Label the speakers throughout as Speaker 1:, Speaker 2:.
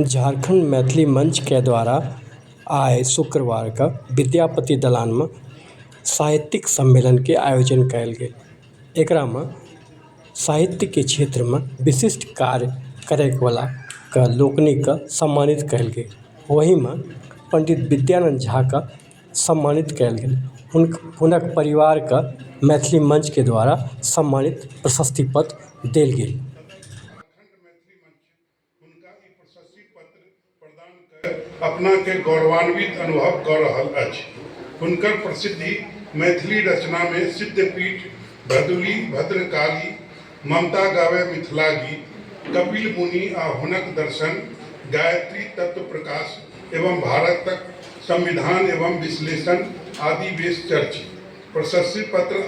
Speaker 1: झारखण्ड मैथिली मञ्चके द्वारा आइ शुक्रवारके विद्यापति दलानमे साहित्यिक सम्मेलनके आयोजन कयल गेल एकरामे साहित्यके क्षेत्रमे विशिष्ट कार्य करयवला के लोकनिके सम्मानित कयल गेल ओहिमे पण्डित विद्यानन्द झाके सम्मानित कयल गेल हुनक हुनक परिवारके मैथिली मञ्चके द्वारा सम्मानित प्रशस्ति पत्र देल गेल हुनका ई प्रशस्ति
Speaker 2: पत्र प्रदान कय अपना के गौरवान्वित अनुभव क रहल अछि। हुनकर प्रसिद्धि मैथिली रचना मे सिद्धपीठ, भदुली, भद्रकाली, ममता गावै मिथिला गीत, कपिल मुनि आ हुनक दर्शन, गायत्री तत्व प्रकाश एवं भारतक संविधान एवं विश्लेषण आदि वेश चर्चित। प्रशस्ति पत्र आ।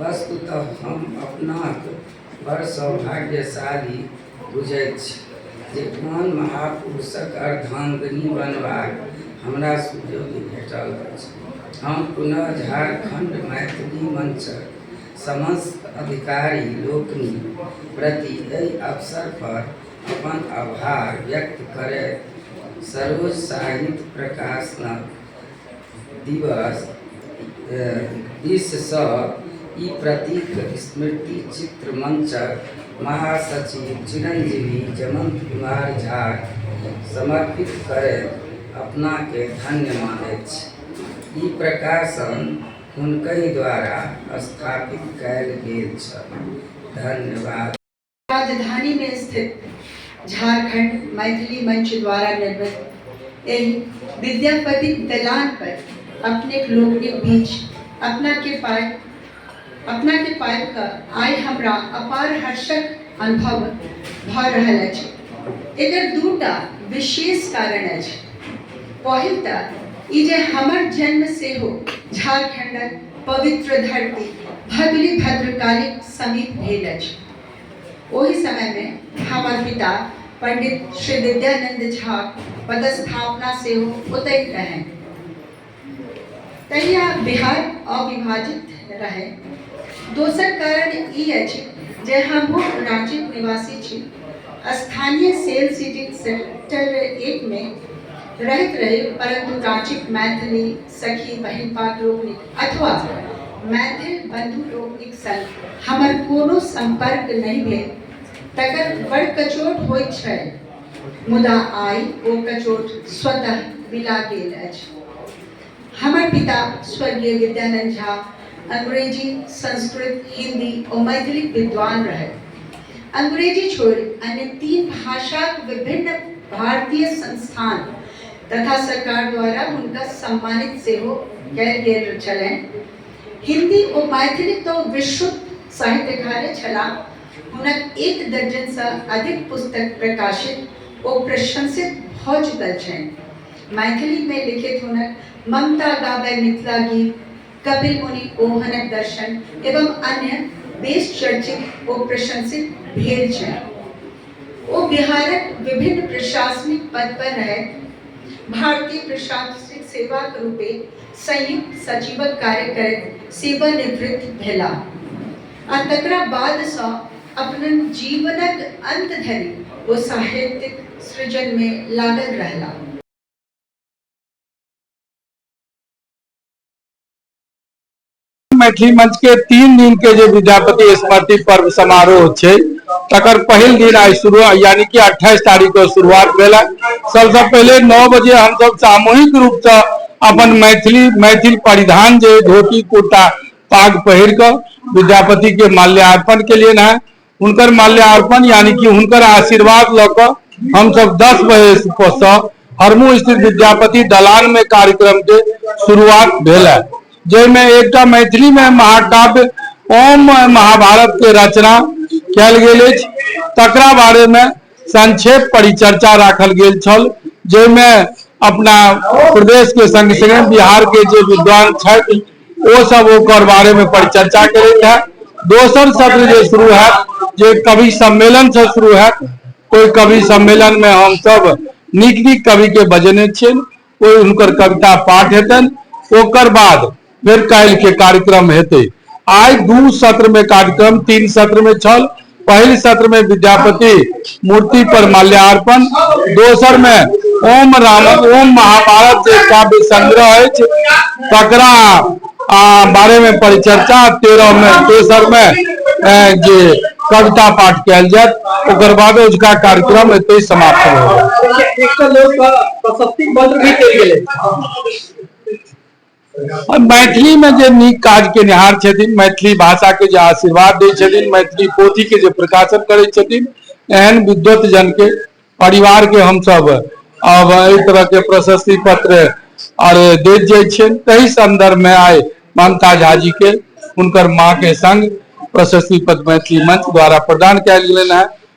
Speaker 3: वस्तुतः हम अपनाक बड़ सौभाग्यशाली बुझैत छी जे कोन महापुरुषक अर्धांगिनी बनबाक हमरा सुजोग भेटल अछि। हम पुनः झारखंड मैथिली मंचक समस्त अधिकारी लोकनि प्रति एहि अवसर पर अपन आभार व्यक्त करैत सरोज साहित्य प्रकाशनक दिवस दिससँ ई प्रतीक स्मृति चित्र मंचक महासचिव चिरंजीवी जमंत कुमार झा समर्पित करैत अपनाके धन्य मानैत छी ई प्रकाशन हुनकहि द्वारा स्थापित कयल गेल छल धन्यवाद राजधानी
Speaker 4: में स्थित झारखंड मैथिली मंच द्वारा निर्मित एहि विद्यापति दलान पर अपने लोग के बीच अपना के पाए अपना के पाए का आय हमरा अपार हर्षक अनुभव भ रहल अछि एकर दूटा विशेष कारण अछि पहिल त ई जे हमर जन्म से हो झारखंडक पवित्र धरती भगली भद्रकाली समीप भेल अछि ओहि समय मे हमर पिता पंडित श्री विद्यानंद झाक पदस्थापना सेहो ओतहि रहनि। तहिया बिहार अविभाजित रहै। दोसर कारण ई अछि जे हमहु रांचीक निवासी छी। स्थानीय सेल सिटी सेक्टर एक मे रहैत रही परंतु रांचीक मैथिली सखी बहिन पाक लोकनिक अथवा मैथिल बंधु लोकनिक संग हमर कोनो संपर्क नहि भेल तकर बड़ कचोट होइत छै मुदा आइ ओ कचोट स्वतः मिला गेल अछि हमर पिता स्वर्गीय विद्यानंद झा अंग्रेजी संस्कृत हिंदी और मैथिली विद्वान रहे अंग्रेजी छोड़ अन्य तीन भाषा विभिन्न भारतीय संस्थान तथा सरकार द्वारा हुनका सम्मानित सेहो कयल गेल छलनि हिंदी ओ मैथिली तो विश्व साहित्यकार छला हुनक एक दर्जन से अधिक पुस्तक प्रकाशित ओ प्रशंसित भ चुकल छनि मैथिली में लिखित हुनक ममता गाबै मिथिला गीत कपिल मुनि ओहनक दर्शन एवं अन्य बेस चर्चित ओ प्रशंसित भेल छै ओ बिहारक विभिन्न प्रशासनिक पद पर रहे भारतीय प्रशासनिक सेवा के रूपे संयुक्त सचिवक कार्य करैत सेवानिवृत्त भेला आ तकरा बाद सँ अपन जीवनक अंत धरि ओ साहित्यिक सृजन में लागल रहला
Speaker 5: मैथिली मंच के तीन दिन के जो विद्यापति स्मृति पर्व समारोह है तकर पहल दिन आज शुरू यानी कि अट्ठाईस तारीख को शुरुआत भेल सबसे पहले नौ बजे हम सब सामूहिक रूप से अपन मैथिली मैथिल परिधान जो धोती कुर्ता पाग पहिर कर विद्यापति के माल्यार्पण के लिए ना हुनकर माल्यार्पण यानी कि हुनकर आशीर्वाद लऽ कऽ हमसभ दस बजेसँ हरमू स्थित विद्यापति दलान में कार्यक्रम के शुरुआत भेल है जाहिमे एकटा मैथिली में महाकाव्य ओम महाभारत के रचना कयल गेल अछि तकरा बारे में संक्षेप परिचर्चा राखल गेल छल जाहिमे अपना प्रदेश के संग संगे बिहार के जे विद्वान छथि ओ सब ओकर बारे में परिचर्चा करैत है दोसर सत्र जे शुरू है जे कवि सम्मेलन से शुरू है कोई कवि सम्मेलन में हम सब नीक नीक कवि के बजेने छियन कोई उनकर कविता पाठ हेतन ओकर बाद फिर काल्हि के कार्यक्रम हेतै आइ दू सत्र में कार्यक्रम तीन सत्र में छल पहिल सत्र में विद्यापति मूर्ति पर माल्यार्पण दोसर में ओम राम ओम महाभारत जे काव्य संग्रह अछि तकरा आ बारे में परिचर्चा तेरह में तेसर में ए, जे कविता पाठ कयल जायत ओकर बाद ओजुका कार्यक्रम एतहि समाप्त होयत एकटा लोक प्रशस्ति पत्र भी देल गेलै आओर मैथिलीमे जे नीक काज केनिहार छथिन मैथिली भाषाके जे आशीर्वाद दै छथिन मैथिली पोथीके जे प्रकाशन करै छथिन एहन विद्वत जनके परिवारके हमसभ आब एहि तरहके प्रशस्ति पत्र आर दैत जाइ छियनि ताहि संदर्भमे आइ ममता झाजीके हुनकर माँके संग प्रशस्ति पत्र मैथिली मंच द्वारा प्रदान कयल गेलनि हेँ